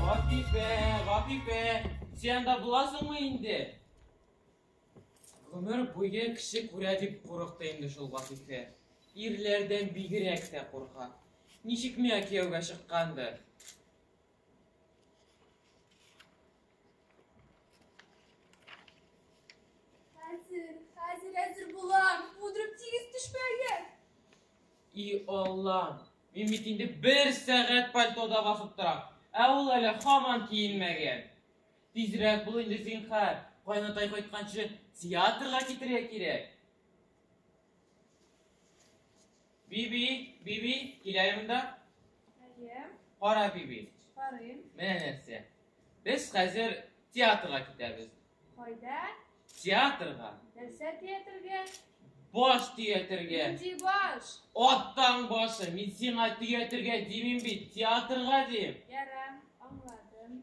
Гапифә, Гапифә, син анда буласыңмы инде? Гомер буе кеше күрә дип курыкты инде шул Гатифә. Ирләрдән бигрәк тә курка. Ничек миңа кияүгә чыккандыр? Хәзер, хәзер, хәзер булам. Удрып тигез төшмәгез. И Алла, мин бит инде бер сәгать пальтода басып торам. Ә ул әле һаман киенмәгән. Тизрәк бул инде зинхар. Кайнатай кайтканчы театрга китерергә кирәк. Биби, биби, килә монда. Әйе. Кара биби. Карыйм. Менә нәрсә. Без хәзер театрга китәбез. Кайда? Театрга. Нәрсә театрга? Баш театрга. Нинди баш? Аттан башы. Мин сиңа театрга димим бит, театрга дим. Ярам, аңладым.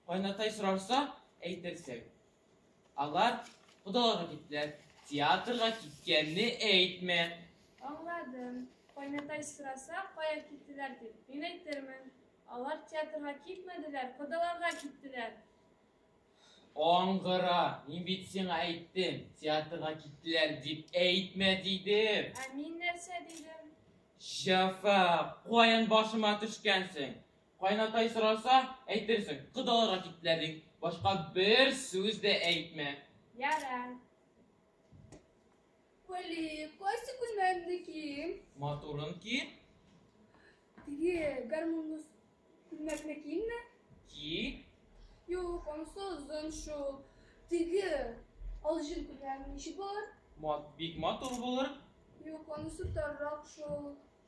Кайнатай сорарса, әйтерсең. Алар кодаларга киттеләр. Театрга киткәнне әйтмә. Аңладым. Кайнатай сораса, кая киттеләр дип, мин әйтермен. Алар театрга китмәделәр, кодаларга киттеләр. Аңгыра, мин бит сиңа әйттем, театрга киттеләр дип әйтмә дидем. Ә мин нәрсә дидем? Җафа, каян башыма төшкәнсең? Кайнатай сораса, әйтерсең, кодаларга киттеләр ди. Башка бер сүз дә әйтмә. Яра. Вали, кайсы күлмәкне кием? Матурын ки, Теге гармунлы күлмәкне киемме? ки, Юк, анысы озын шул. Теге алҗын күлмәк ничек булыр? мат, бик матур булыр. Юк, анысы таррак шул.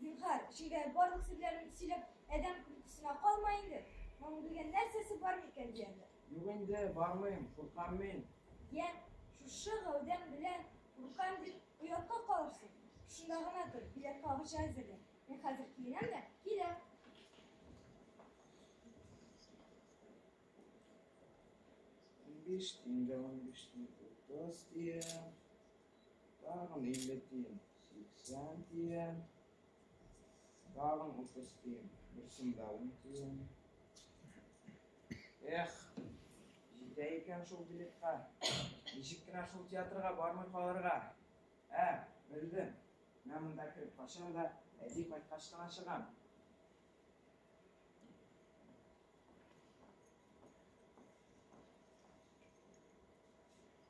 Зинһар, шигәр барлык серләрен сөйләп, адәм көлкесенә калма инде. Моның белгән нәрсәсе бар микән ди әле? Юк инде, бармыйм, куркам мин. Я, шушы гәүдәң белән куркам дип, оятка калырсың. Шунда гына тор, билет кагычы әзерлә. Мин хәзер киенәм дә, киләм. Унбиш тиен дә унбиш тиен, утыз тиен. Тагын 50 тиен, 80 тиен. Тагын 30 тиен, бер сумда 10 тиен. Эх, җитә икән шул билетка. Ничек кенә шул театрга бармый калырга? Ә, белдем. Менә монда кереп качам да, әти кайткач кына чыгам.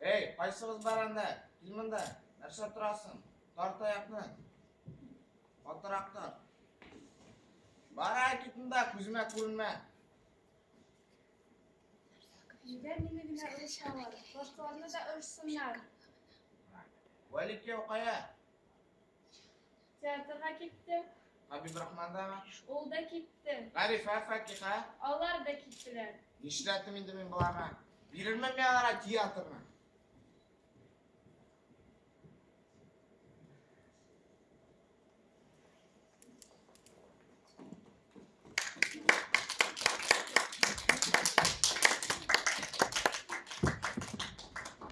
Әй, кайсыгыз бар анда? Кил монда. Нәрсә торасың? Тар таякны. Катырак тар. Бара кит монда, күземә күренмә. Нигә мине генә ырышалар? Башкаларны да ырышсыннар. Вәликияу кая? Театрга китте. Хабибрахмандагы. Ул да китте. Гарифә, Факиха. Алар да киттеләр. Нишләтим инде мин боларга? Бирермен мин аларга театрны.